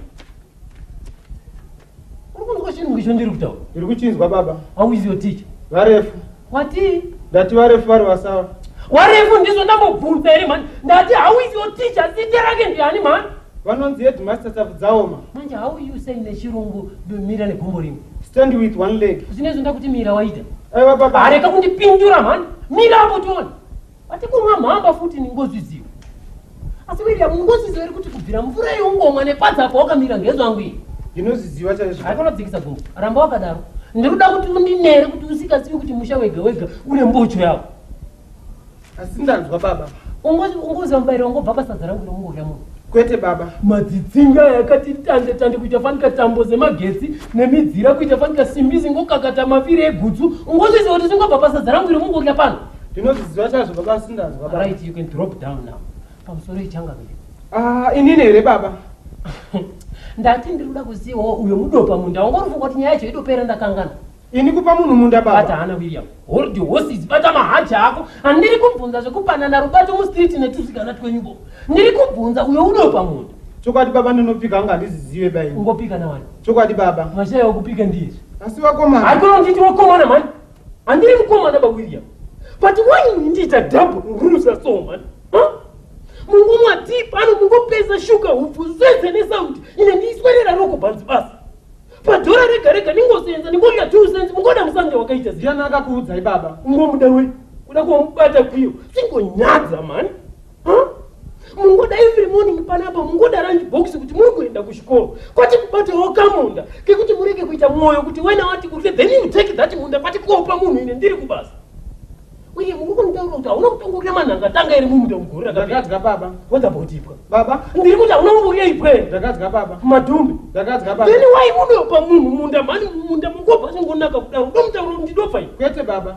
Uri kunzwa chinhu ngicho ndiri kutaura? Ndiri kuchinzwa baba. How is your teacher? Varefu. Watii? Ndati varefu vari vasawa. Warefu ndizvo ndambobvunza here mhani? Ndati how is your teacher? Zita rake ndiani mhani? Vanonzi headmaster Tafudzaoma. Manje how are you saying nechirungu domira negumbo rimwe? Stand with one leg. Zvinezvi ndakuti mira waita. Aiwa baba. Areka kundipindura mhani. Mira apo tione. Ati kunwa mhamba futi ningozi ziwo. Asi William ngozi ziwo iri kuti kubvira mvura yeungomwa nepadza apo wakamira ngezvangu iyi. Ndinoziziva chaizvo. Haikona kudzikisa gumbo. Ramba wakadaro. Ndiri kuda kuti undinere kuti usikazivi kuti musha wega wega une mbocho yawo. Asi ndanzwa baba. Ungozi ungozi mubairo wangu baba sadza rangu rinongorya munhu. Kwete baba. Madzitsinga yakati tande tande kuita fanika tambo dzemagetsi nemidzira kuita fanika simbi zingokakata maviri egutsu. Ungozi ziwo kuti zingobva pasadza rangu rinongorya pano. ndinozviziva chazvo baba sindazwa right you can drop down now pamusoro ichanga vile ah inini here baba ndati ndiri kuda kuzivawo uyo mudopa munda wanga unofunga kuti nyaya yacho itopera ndakangana ini kupa munhu munda baba bata hana william hold your horses bata mahachi ako handiri kubvunza zvekupanana rubato mustreet netusikana twenyubo ndiri kubvunza uyo udopa munda chokwadi baba ndinopika anga handizizive bai ungopika nawani chokwadi baba mashaya okupika ndizvi asi vakomana hakunonditi wakomana mani Andiri mukomana ba William. But why mundiita double rusa so man? Huh? Mungomwa deep ano mungopesa sugar hupfu zvese nesound ine ndiiswerera roko bhanzi basi. Padhora rega rega ndingosenza ndingoita two cents mungoda musange wakaita ziyana akakuudzai baba. Ungomuda we kuda kumubata kwiyo singonyadza mani. mungoda every morning panapa mungoda ranji box kuti muri kuenda kuchikoro kwati kubatawo kamunda kekuti murege kuita mwoyo kuti wena wati kurye then you take that munda kwati kopa munhu ine ndiri kubasa uye muri kunitaura kuti hauna kutanga kurya manhanga tanga iri mumunda mugore rakadya baba wadabotiipwa baba ndiri kuti hauna kumborya ipwe ndakadya baba madhumbi ndakadya baba then wai munopa munhu munda mhani munda mukopa chingonaka kudaro ndomutaura kuti ndidofai kwete baba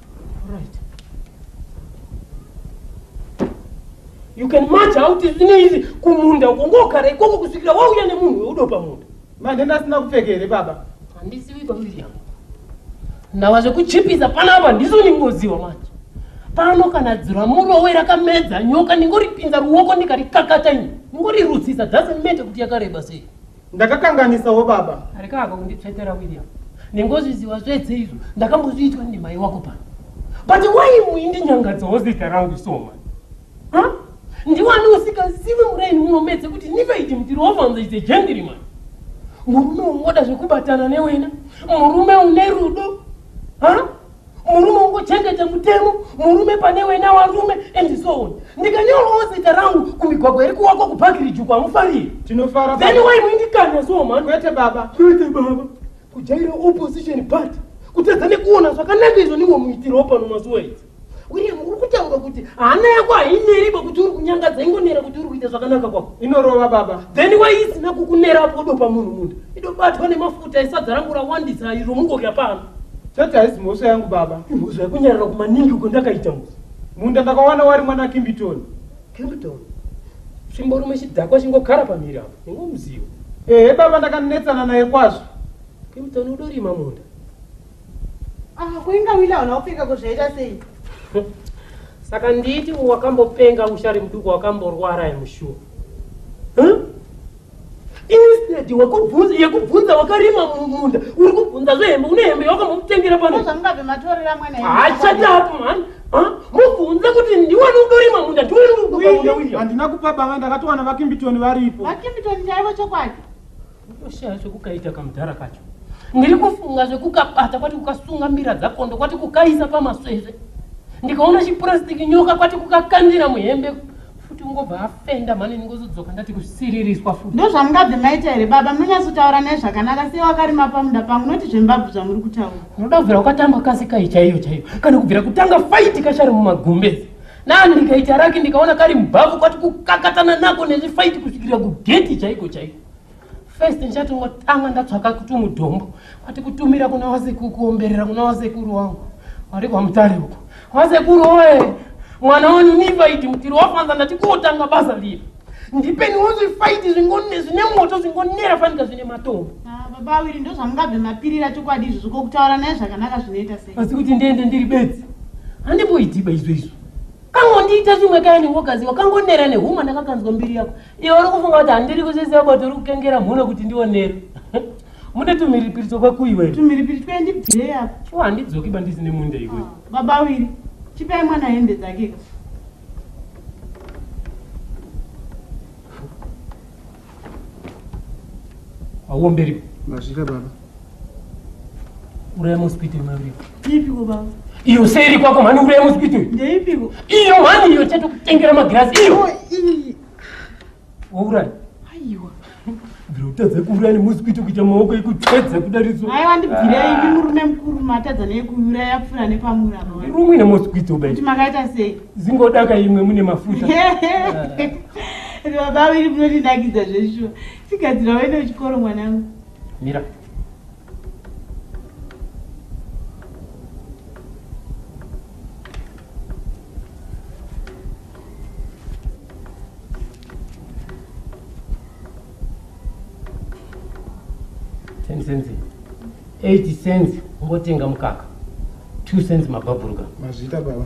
you can match out zvine izvi kumunda uko ngogara ikoko kusvikira wauya nemunhu weudo pamunda manje ndasina kupfeka here baba handizivi kwawiriam ndawa zvekuchipisa panapa ndiso ndingoziwa manje pano kana dzira murowe rakamedza nyoka ndingoripinza ruoko ndikarikakata ini ndingorirutsisa dzase mete kuti yakareba sei ndakakanganisawo baba areka hako kunditsvetera william nengozviziva zvese izvo ndakambozviitwa ndimai wako pano but why muindinyangadzawo zita rangu soma huh? ndiwani usikazivi muraini munomedze kuti nivaiti mutiroovanza is a gentleman murume ungoda zvekubatana newena murume une rudo huh? murume ungochengete mutemo murume pane wena warume and so on ndikanyorawo zita rangu kumigwagwa iri kuwako kubhakirijuku hamufariri tinofara then why muindikanya so man kwete baba kwete baba kujaira opposition party kutadza nekuona zvakanaka izvo niwo muitiro pano mazuva idzi william uri kutaura kuti hana yako haineri pakuti uri kunyangadza ingonera kuti uri kuita zvakanaka kwako inorova baba then why isina kukunera apo udopa munhu munda idobatwa nemafuta isadza rangu rawandisa iro mungodya pano Tete haisi mhosva yangu baba. Imhosva yakunyarara kumaningi uko ndakaita musi. Munda ndakawana wari mwana Kimbitoni. Kimbitoni? Chimbo rumwe chidhakwa chingogara pamiri apo. Ingomuzivo. Ehe baba ndakanetsana naye kwazvo. Kimbitoni udorima munda. Ah, kuinga wila hauna kupfeka kuzvaita sei? Saka nditi wakambopenga ushari muduku wakamborwara yemushuwa. Huh? instead wakubvunza yekubvunza wakarima mumunda uri kubvunza zvehembe une hembe yawakambomutengera pano zvamungabve matorera mwana hachati apo mhani mubvunze kuti ndiwani udorima munda ndiwani handina kupa banga ndakatowana vakimbitoni varipo vakimbitoni chaivo chokwadi unoshaya zvekukaita kamudhara kacho ndiri kufunga zvekukabata kwati kukasunga mbira dzakondo kwati kukaisa pamaswesve ndikaona chipurasitiki nyoka kwati kukakandira muhembe futi ungobva afenda mhani ndingozodzoka ndati kusiririswa futi ndozvamungabve maita here baba munonyatsotaura naye zvakanaka sei wakarima pamunda pangu noti zvembabvu zvamuri kutaura unoda kubvira ukatamba kasi kai chaiyo chaiyo kana kubvira kutanga faiti kashari mumagumbezi nani ndikaita raki ndikaona kari mbabvu kwati kukakatana nako nezvifaiti kusvikira kugeti chaiko chaiko first ndichatongotanga ndatsvaka kuti mudombo kwati kutumira kuna wasekuru kuomberera kuna wasekuru wangu wari kwamutare uko wasekuru oye mwana wanu nivaiti mutiri wafanza ndati kotanga basa liri ndipeniwo zvifaiti zvine moto zvingonera fanika zvine matombo ah, baba awiri ndozvamungabve mapirira chokwadi izvo zvokokutaura naye zvakanaka zvinoita sei asi kuti ndiende ndiri bedzi handimboidiba izvo izvo kangondiita zvimwe kaya newogaziwa kangonera nehuma ndakakanzwa mbiri yako Iwe uri kufunga kuti handiri kuzviziva kuti uri kukengera mhuno kuti ndionero. Mune tumhiripiri tokwa kui wewe? Tumhiripiri twendi bdee apo. Chua handidzoki bandisine munda iwe. Ah, baba wiri, chipai mwana hembe dzake ka. Auomberi. Mazvira baba. uraya mosquito imwe uripo iipiko baba iyo seiri kwako mhani uraya mosquito ndeipiko iyo mhani iyo chete kutengera magirasi iyo oh, wauraya aiwa bvira utadza kuuraya nemosquito kuita maoko ekutedza kudariso aiwa ndibvirei ndi murume mukuru matadza neyekuuraya pfura nepamura rumwe nemosquito bai kuti makaita sei zingodaka imwe mune mafuta baba viri munondinakidza zveshuwa tigadzira wende uchikoro mwanangu Mira. Ten cents. Eight cents ungotenga mukaka. Two cents mabhabhuruka. Mazvita baba.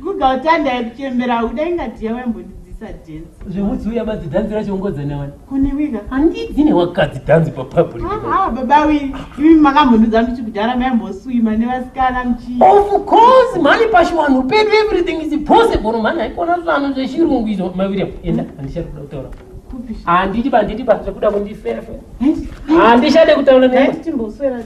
Guga utanda yekuchembera hauda inga dhiya vaimbondidzisa dance. Zvemutsi uya badzi dhanzi racho ungodza nawana. Kune wika. Handidzi newakadzi dhanzi pa public. Ah, ah baba wi, imi makambonudza mchi kudhara maimboswima nevasikana mchi. Of course, mani pashi wanhu pedu everything is possible mani haikona zvanu zvechirungu izvo mai William. Enda handichari kuda kutaura. Handidi bandidi ba zvekuda kundifefe. Handishade kutaura naye. Timboswera.